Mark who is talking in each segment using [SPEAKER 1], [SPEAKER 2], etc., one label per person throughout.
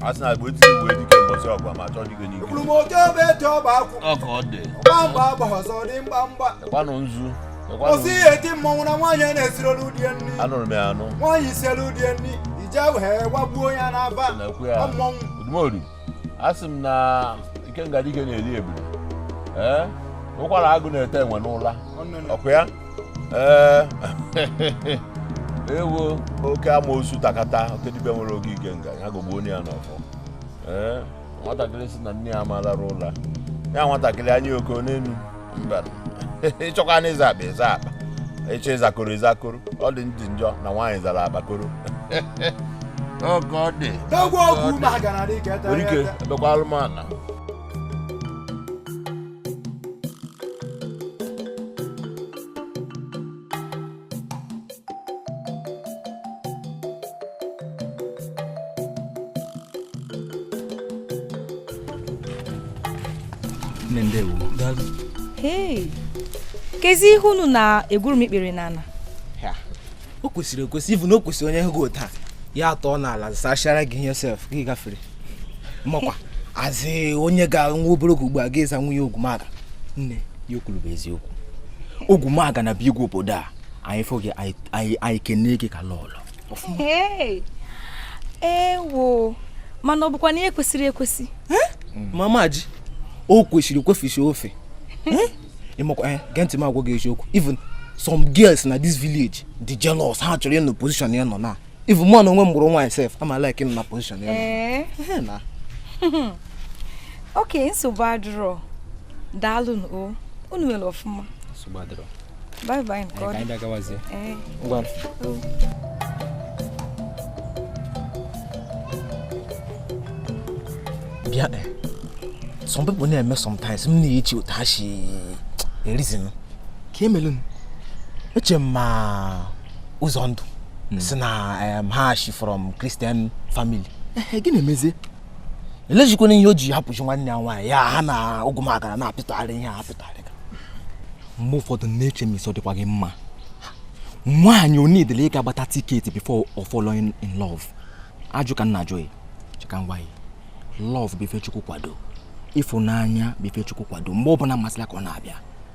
[SPEAKER 1] asị na agba etinye uwe dike mbọsị ọgwa ma chọọ dike n'ike kwuru m oke ebe
[SPEAKER 2] eji ọba akwụ ọka ọ dị
[SPEAKER 1] mgbamgba agba
[SPEAKER 2] ọzọ dị mgbamgba ịkwanụ
[SPEAKER 1] nzu kwụsị ihe
[SPEAKER 2] eti mmọnwụ na nwaanyị a na-esiri olu die nri anụrụ m ya anụ nwaanyị
[SPEAKER 1] sielu die
[SPEAKER 2] nri ije wee gbagbuo ya n'aba na-ekwu ya mmọnwụ odumodu
[SPEAKER 1] asị m na ikenga dike na-eli ebule ee ụkwara agụ na-ete enwe n'ụla ọkwa ya ee ewo oke amosu takata oke dibịa nwere oke ikenga ya gogbuo onye ya n'ọfọ ee nwatakịrị si na nne ya ama alara ụla ya nwatakịrị anya oko n'enu mba ịchọkwanụ ịza akpa ịza akpa ịchọ ịza koro ịza koro ọ dị ndị njọ na nwaanyị zara akpakoro oke odogwu
[SPEAKER 2] ogwumaga na dike ete nwere ike ete. ebekwa alụmana
[SPEAKER 3] kezi ihe unu na-egwuru m ikpere
[SPEAKER 4] n'ana o kwesịrị ekwesị even o kwesịrị onye hụ gị taa ya atọ n'ala sachara gị ihe sef gị gafere makwa azị onye ga nwa obere oge ugbu a ga-eza nwunye ogwumaga nne ihe o kwuru bụ eziokwu ogwumaga na bụ igwe obodo a anyị fụ gị anyị kene gị ka lọlọ
[SPEAKER 3] ewo mana ọ bụkwa na ihe kwesịrị ekwesị hmm.
[SPEAKER 4] mama ji o kwesịrị ekwefisi ofe hmm? ịmakwa eh, gee ntị m agwa gị eziokwu even some girls na this village dị jealous ha chọrọ ịnọ position ya nọ na even mụ na onwe m bụrụ nwaanyị sef ama like ịnọ na position ya eh?
[SPEAKER 3] na okay nsogbu adịrọ daalụ o unu melu ọfụma nsogbu adịrọ
[SPEAKER 4] bye bye nke
[SPEAKER 3] ọdụ eh,
[SPEAKER 4] ngwa bịa eh. some people na-eme sometimes m na-echi otu ha si e-reason ka emelu m eche m ma ụzọndụ hmm. si na ha shi from Christian family gị na-emezi elejikwana ihe o ji hapụchi nwanne ya nwaanyị ya ha na ogwumaga na-apịtụgharị ihe ha apịtụgharị mgbe ụfọdụ na-eche m isi ọ dịkwa gị mma nwaanyị ọ needịlị ịga gbata ticket before ọ fall in love ajụ ka m na-ajụ gị chika ngwa ya love bụ ife chukwu kwado ịfụnanya bụ ife chukwu kwado mgbe ọ bụla masịlị ya ka ọ na-abịa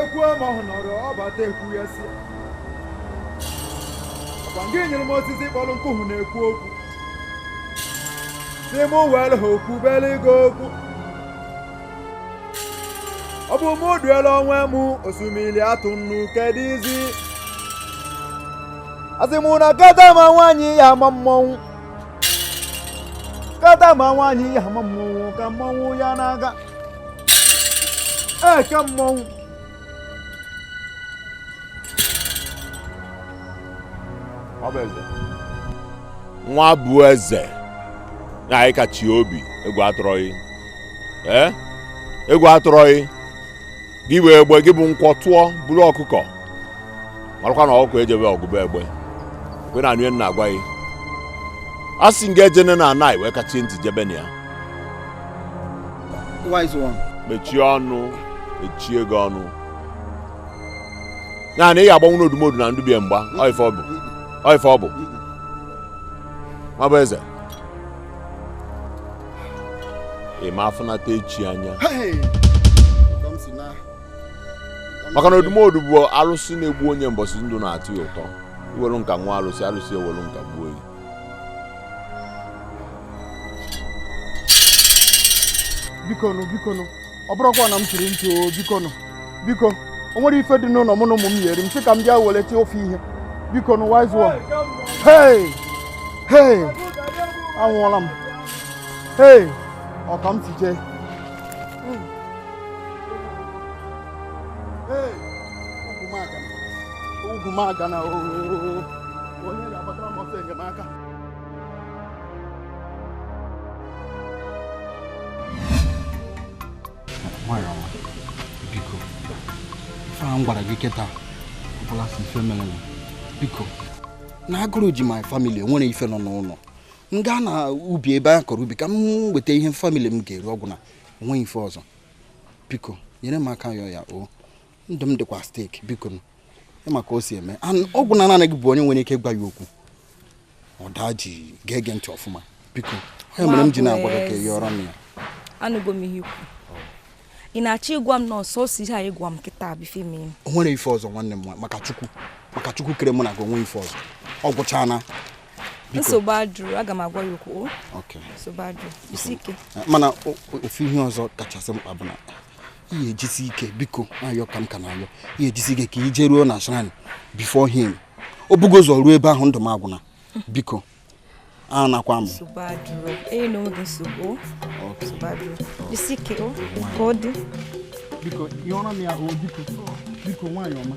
[SPEAKER 2] ekwuo ma ọ nọrọ ọ bata ekwu ya sị ọkwa ngị nyere m osisi kpọrọ nkụ ahụ na-ekwu okwu sị m were ha okwu bere gị okwu ọ bụ mụ duela onwe m osimiri atụ nnu keduzi a sị m na kata ma nwaanyị ya ama mmọnwụ kata ma nwaanyị ya ama mmọnwụ ka mmọnwụ ya na-aga eke mmọnwụ
[SPEAKER 1] Nwabueze na anyị kachie obi egwu atụrọ gị ee egwu atụrọ gị gị bụ egbe gị bụ nkwọ tụọ buru ọkụkọ marakwa na ọkụkọ ejebe ọgụ be egbe kwe na anụ na-agwa gị a sị ngị ejene na anaghị wee kachie ntị jebe na ya
[SPEAKER 2] wise one mechie
[SPEAKER 1] ọnụ mechie gị ọnụ ya na ị ga-agbanwu n'odumodu na ndụbie mgba ọ ife ọ bụ ọ ife ọ bụ Nwabueze ị ma afụnata echi anya Hey! Come see now. Come maka na see. odumodu bụ alụsị na-egbu onye mbọsị ndụ na-atọ ya ụtọ i welu nka nwaa alụsị alụsị ewelu nka gbuo gị
[SPEAKER 2] bikonu bikonu ọ bụrụkwa na m chiri ntị o bikonu biko o nwerọ ife dị n'ụlọ mụ na ụmụ m ya-eri m sị ka m bịa welete ofe ihe bikonu wise one hey hey anwụọla m hey ọ ka m si jee Ogwumagana onye ga-agbatara m ọsọ enyemaka nwanyị ọma biko ife ahụ m gwara gị kịta ọ bụrọ asị ife mere m biko na agụrụ ji my family enwerọ ife nọ n'ụlọ m gaa na ubi ebe a kọrọ ubi ka m weta ihe family m ga-eri ọ gwụna o nweghị ife ọzọ biko nyere m aka yọọ ya o ndụ m dịkwa stake bikonu ị ma ka o si eme And ọ bụ na naanị gị bụ onye nwere ike ịgwa ya okwu ọ daa jii gee gị ntị ọfụma biko ọ ya mere m ji na-agwa gị ka ị yọrọ m ya anụgo m
[SPEAKER 3] ihe i kwu ị na-achọ ịgwa m na ọ sọsọ ihe a ị gwa m kịta bụ ife mee o nwere ife ọzọ nwanne
[SPEAKER 2] m nwa- maka chukwu maka chukwu kere mụ na gị o nwerọ ife ọzọ ọ gwụchaana
[SPEAKER 3] nsogbu adịrọ aga m agwa ya okwu nsogbu adịrọ jisie ike eh,
[SPEAKER 2] mana ofu ihe ọzọ kachasị mkpa bụ na ị ya-ejisi ike biko ayọ ka m ka na-ayọ ị ya-ejisi ike ka i jeruo na shrine before him o bu gị ụzọ ruo ebe ahụ ndụ m agwụna biko a nakwa m biko
[SPEAKER 3] yọọrọ m ya o biko biko
[SPEAKER 2] nwaanyị ọma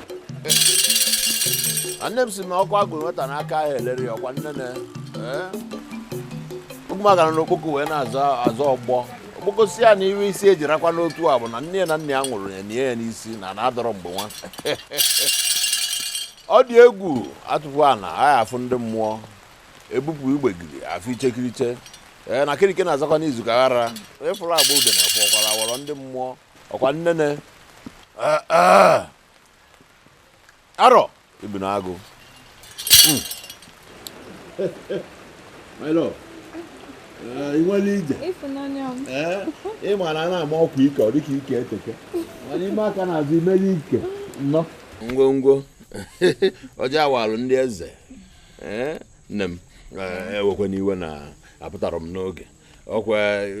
[SPEAKER 1] nne m si na ọkụ a gụrụ nwata n'aka aha elere ya ọkwa nnene ogwumagana na okpoko wee na-azọ ọgbọ okpoko si ya na ife isi ya ji rakwa n'otu a bụ na nne ya na nna ya nwụrụ ya nie ya n'isi na ana adịrọ mgbe nwa ọ dị egwu atụpụ ana a ga-afụ ndị mmụọ ebupụ igbegiri afụ ichekiriche ee na kirike na-azakwa n'izu ka ghara ịfụrụ agba ude na-efe ọkwara awọrọ ndị mmụọ ọkwa nnene eh, eh. arọ bi n'agụ hmm. my love eh, ị nwere ije ị ma na a na-ama ọkwa ike ọ dịka ike eteka mana i mee aka n'azụ i melu ike nnọọ ngwongwo ọjọọ awalụ ndị eze nne m ewekwana iwe na apụtarọ m n'oge ọkwa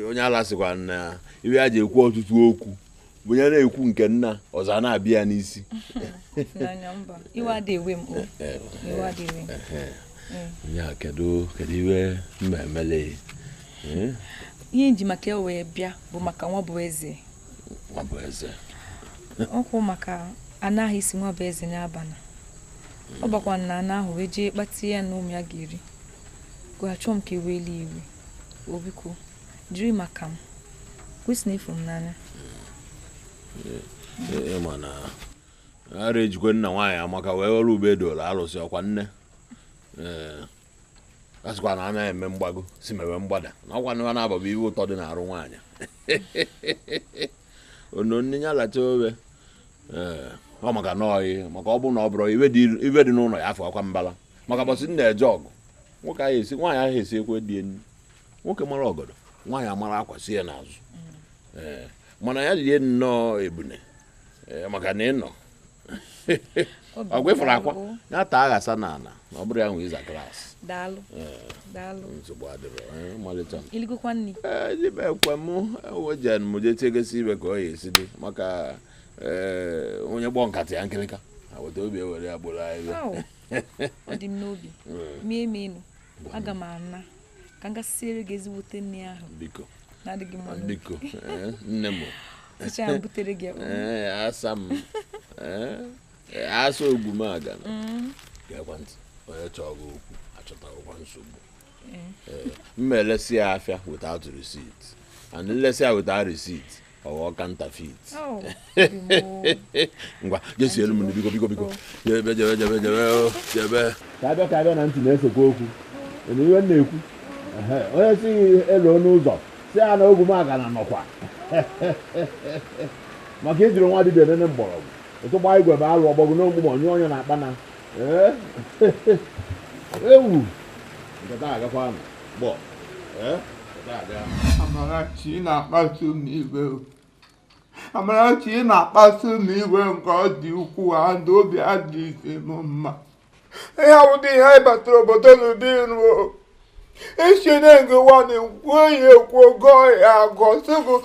[SPEAKER 1] onye ala sịkwa na ife ya ji ekwu ọtụtụ okwu bụ ya na-ekwu nke nna ọzọ a na-abịa ya n'isi ya kedu kedu ife m ma-emele eh?
[SPEAKER 3] ihe m ji maka ya wee bịa bụ maka nwabụeze nwabụeze ọkwụ maka anaghị isi nwabụeze n'abalị ọ bakwa na ana ahụ wee jee kpata ya na ụmụ ya ga-eri achọọ m ka i welụ ife obiko jiri maka m kwesị na ịfụ m
[SPEAKER 1] n'anya ịma na ara ejikwa na nwaanyị amaka wee welụ ube doro alụsị ọkwa nne a sịkwa na anaghị eme mgbago si mewe mgbada na ọkwa nwa na ụba bụ ife ụtọ dị n'arụ nwaanyị ononne ya lacha ofe ọ maka na ọyị maka ọ bụ na ọ bụrụ ife dị n'ụlọ ya afọ akwa mbala maka mbọsị m na-eje ọgụ nwoke ahụ esi nwaanyị ahụ esi ekwe dị enyi nwoke mara ọgọdọ nwaanyị amara akwa si ya n'azụ ee mana ya rie nnọọ ebune ee maka na ị nọ ọgwa ịfụrụ akwa ya taa aghasa n'ala na ọ bụrụ ya nwe ịza klaasị
[SPEAKER 3] daalụ daalụ nsogbu adịrọ
[SPEAKER 1] ee, malite m i
[SPEAKER 3] ligokwa nri ekwe m
[SPEAKER 1] ewejen m jee tiegesi ife ka ọ ya-esi dị maka ee onye kpọọ nkata ya nkịlịka agbata obi ewere ya kporo ahịhịa Au, ọ
[SPEAKER 3] dị m n'obi mie m ịnụ aga m ana ka m ga siere gị ezigbote nri ahụ biko na-adịghị
[SPEAKER 1] mma n'obi.
[SPEAKER 3] biko ee,
[SPEAKER 1] nne m sichaa ya
[SPEAKER 3] butere gị ya. ee asa
[SPEAKER 1] m ee asa Ogwumagana Mm. gekwa ntị onye chọọ gị okwu achọtakwa nsogbu Ee. Ee, m elesi ya afịa without receipt and m lesi ya without receipt ọ ghọọ counterfeit oh, ngwa je sielu m biko biko biko jebe jebe jebe jebe oh, jebe ka abịa ka abịa na ntị na-esekwa okwu ị nụ ihe m na-ekwu onye si elu ọnụ ụzọ sị ya na Ogwumagana nọkwa maka ejiri nwa dibịa nene mgbọrọgwụ ụtụ gbaa igwe bụ alụ ọgbọgwụ na ogbugbo nyụọ onye na-akpa na ewu nke taa agakwa anụ
[SPEAKER 5] gbọ eh? Amarachi na-akpasu m iwe Amarachi na-akpasu m iwe nke ọ dị ukwuu adị obi adịghị m mma ihe a wụdị ihe anyị batara obodo n'ụdị ruo isi na-ege ụwa na-ekwu eyi ekwu ogo ya agọ sịbụ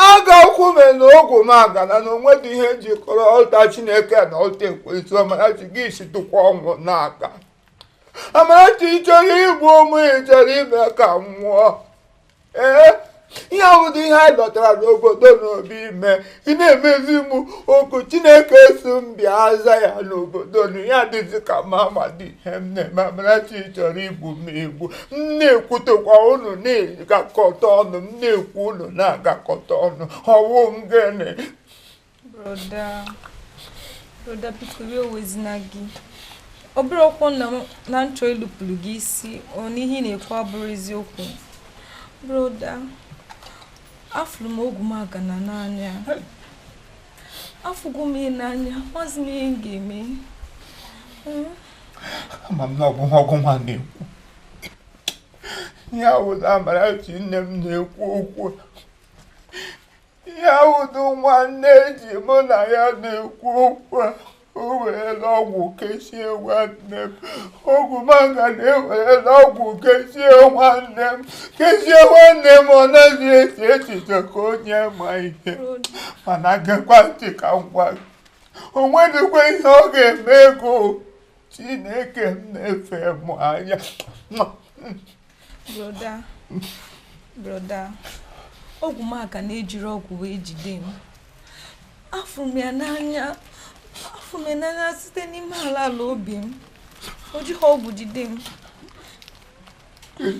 [SPEAKER 5] aga ụkwụ mụ na Ogwumagana na o nwedị ihe jikọrọ ọta chineke na ọta ekwensu Amarachi gị si tụkwa ọnwụ n'aka Amarachi ị chọrọ igbu m ị chọrọ ime ka m nwụọ ee ihe a wụdị ihe anyị lọtara n'obodo n'obi ime ị na-emezi m oku chineke sị m bịa aza ya n'obodo na ya dịzi ka m amadị ihe m na-eme amarachi chọrọ igbu m igbu m na-ekwutekwa unu na-agakọta ọnụ m na-ekwu unu na-agakọta ọnụ ọ wụ gịnị
[SPEAKER 3] broda broda biko iwe ewezina gị ọ bụrọkwanụ na m na-achọ ịlụpụrụ gị isi ọ n'ihe ị na-ekwu abụrọ eziokwu broda afụrụ m Ogwumagana n'anya afụgo m ya n'anya amazi m ihe m
[SPEAKER 5] ga-eme ama m na ọgwụ nwa ọgwụ nwa na-ekwu ihe a wụdị Amarachi nne m na-ekwu okwu ihe a wụdụ nwanne ji mụ na ya na-ekwu okwu a o werela ọgwụ kechie nwanne m Ogwumagana ewerela ọgwụ kechie nwanne m kechie nwanne m ọ naghị eche echiche ka onye ma ihe mana gekwa ntị ka m gwa gị o nwedịkwa ihe ọ ga-eme ego chineke m na-efe mụ anya
[SPEAKER 3] broda broda ọ bụghị maka na ejiri ọgwụ wee jide m afụ m ya n'anya afụ m ya n'anya site n'ime ala ala obi m o jighị ọgwụ jide m Ele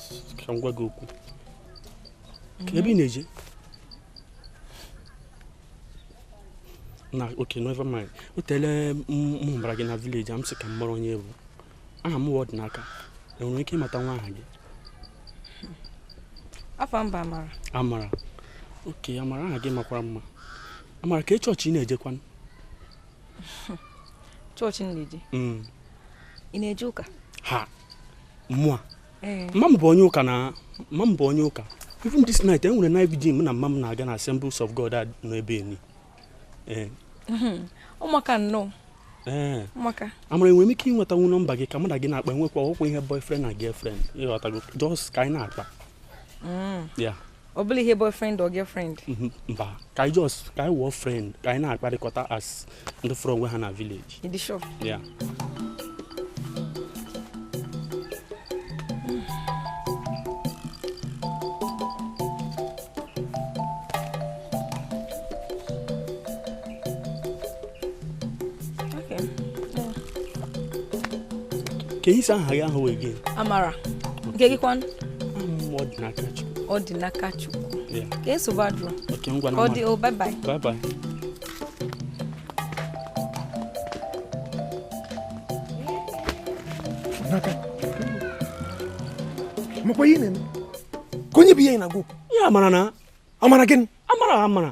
[SPEAKER 2] ka m gwa gị okwu kee ebe ị na-eje na okay never mind o teele m hụbara gị na village a m sị ka m mara onye ị bụ aha m wụ ọdịnaka enwere m ike ịmatanwu aha gị
[SPEAKER 3] afa m bụ amara
[SPEAKER 2] amara okay amara aha gị makwara mma amara kee chọọchị ị
[SPEAKER 3] na-ejekwanụ chọọchị m na-eje mm. ị na-eje ụka ha
[SPEAKER 2] mụwa mma m bụ onye ụka na mma m bụ onye ụka even this night e nwere night vigil mụ na mma m na-aga na assemblies of god a nọ ebe nị mhm.
[SPEAKER 3] ọ maka nnọọ
[SPEAKER 2] ee amara enwere m ike ịnwetanwu nọmba gị ka mụ na gị na-akpa enwekwa ọkwa ihe boyfriend na girlfriend ịghọtago just ka anyị na-akpa mm. yeah ọ bụrọ
[SPEAKER 3] ihe boyfriend or girlfriend mhm, mba ka
[SPEAKER 2] anyị just ka anyị wụọ friend ka anyị na-akparịkọta as ndị fụrụ onwe ha na village ị dị sure yeah kee ị sị aha gị wụ again
[SPEAKER 3] amara nke gị kwan
[SPEAKER 2] ọdịnakachukwu okay nsogbu
[SPEAKER 3] adịrọ ọ dị o
[SPEAKER 2] oh, bye bye bye bye
[SPEAKER 4] makwa ihe na-eme kee onye bụ ihe ị na-agwa okwu ya amara na
[SPEAKER 2] amara gịnị
[SPEAKER 4] amara amara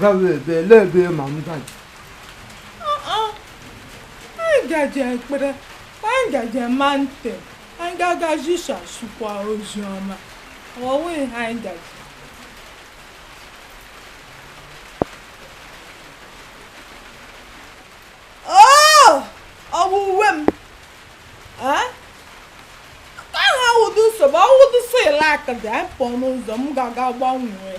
[SPEAKER 5] gawa ebe ele ebe ma m gaji
[SPEAKER 6] anyị gaji ekpere anyị gaji mountain anyị ga-aga zisasịkwa ozi ọma ọwụwa ihe anyị gaji akụda pụọ n'ụzọ m ga-aga gbanwee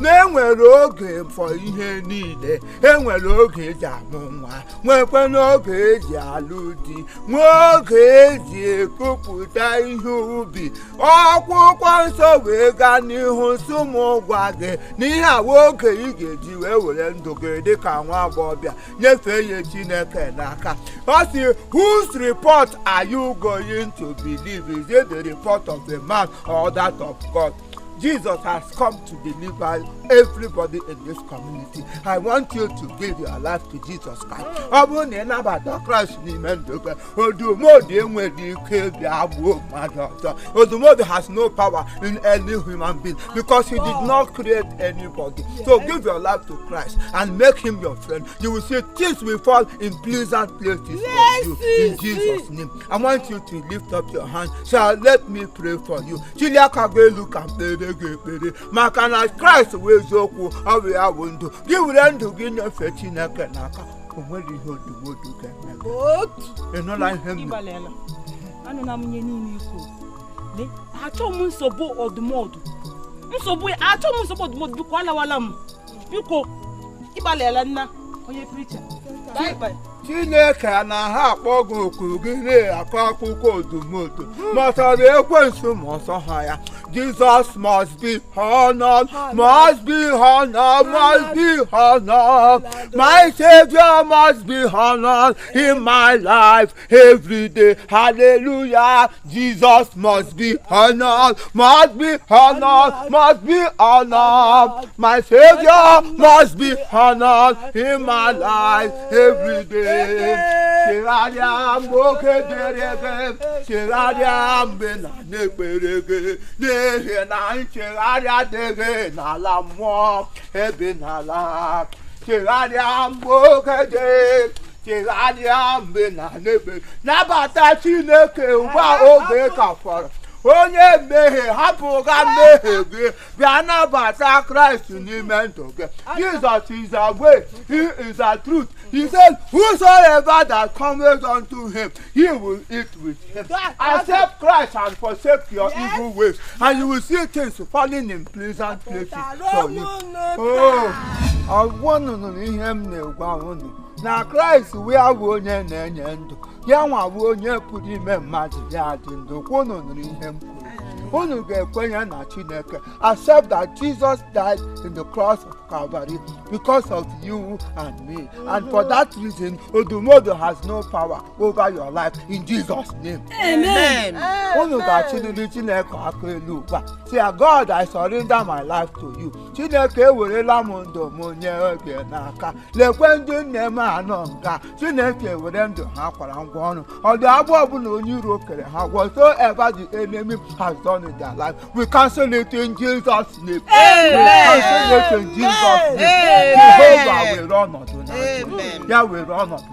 [SPEAKER 5] na enwere oge for ihe niile enwere oge eji amụ nwa nwekwanụ oge eji alụ di nwee oge eji ekupụta ihe ubi akwụkwọ nsọ wee gaa n'ihu sị m gwa gị na ihe a wụ oge ị ga-eji wee were ndụ gị dị ka nwa agbọghọbịa nyefee ya chineke n'aka ọ sị whose report are you going to believe is it the report of a man or that of God Jesus has come to deliver everybody in this community. I want you to give your life to Jesus Christ. Ọ bụrụ na ị nabata Kraịst n'ime ndụ gị, odumodu enweghị ike ebi agbuo mmadụ ọzọ. Odumodu has no power in any human being because he did not create anybody. So give your life to Christ and make him your friend. You will see things will fall in pleasant places for you in Jesus' name. I want you to lift up your hand. Shall let me pray for you. chilie aka gị elu ka m kpeere gị ekpere maka na kraịst wụ eziokwu ọ bụ ya bụ ndụ gị were ndụ gị nyefee chineke n'aka o nwere ihe odumodu ga-eme gị. otu ị nụla ihe m na- ị
[SPEAKER 7] gbalịala anụla m ihe niile i kwule achọghị m nsogbu odumodu nsogbu ya achọghị m nsogbu odumodu biko alawala m biko ị
[SPEAKER 5] gbalịala nna onye preacher chineke a na-akpọ gị oku gị na-akọ akụkọ odumodu matara ekwensu ma ọsọ ha ya jesus must be honored must be honored must be honored my savior must be honored in my life every day hallelujah Jesus must be honored, must be honored, must be honored. My Savior must be honored in my life every day. Chegharịa mgbe oge dị, chegharịa mgbe a na-ekpere gị, n'ihi na nchegharị adịghị n'ala mmụọ ebe ị na-ala. Chegharịa mgbe oge dị chegharịa mgbe a na-ekpere gị nabata chineke ugbu a oge ka fọrọ onye mmehie hapụ ga mmehie gị bịa nabata kraịst n'ime ndụ gị jesus is the way he is the truth he said whosoever that comes unto him he will eat with him accept christ and forsake your yes. evil ways and you will see things falling in pleasant places for you ọ wụ na unu nụ ihe m na-agwa unu na kraịst wụ ya bụ onye na-enye ndụ ya nwa bụ onye pụrụ ime mmadụ ya adị ndụ kwa unu nụrụ ihe m kwuru unu ga-ekwenye na chineke accept that jesus died in the cross of calvary because of you and me and for that reason odumodu has no power over your life in jesus name Amen.
[SPEAKER 7] unu
[SPEAKER 5] ga-achịliri chineke aka elu ugbu a sị ya god i surrender my life to you chineke ewerela m ndụ m nye gị n'aka leekwa ndị nne m a nọ nga chineke were ndụ ha kwara ngwa ọrụ ụdị agbụ ọbụla onye iro kere ha whatsoever the enemy has done in their life we cancel it in jesus name we cancel
[SPEAKER 7] it
[SPEAKER 5] in jesus name jehovah were ọnọdụ na ya were ọnọdụ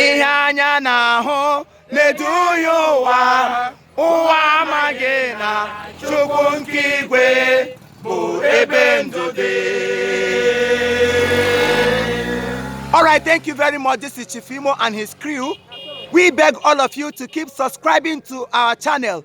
[SPEAKER 5] ihe anya na-ahụ na-eduhie ụwa ụwa amaghị na chukwu nke igwe bụ ebe ndụ dị All right, thank you very much. This is Chief Imo and his crew. We beg all of you to keep subscribing to our channel.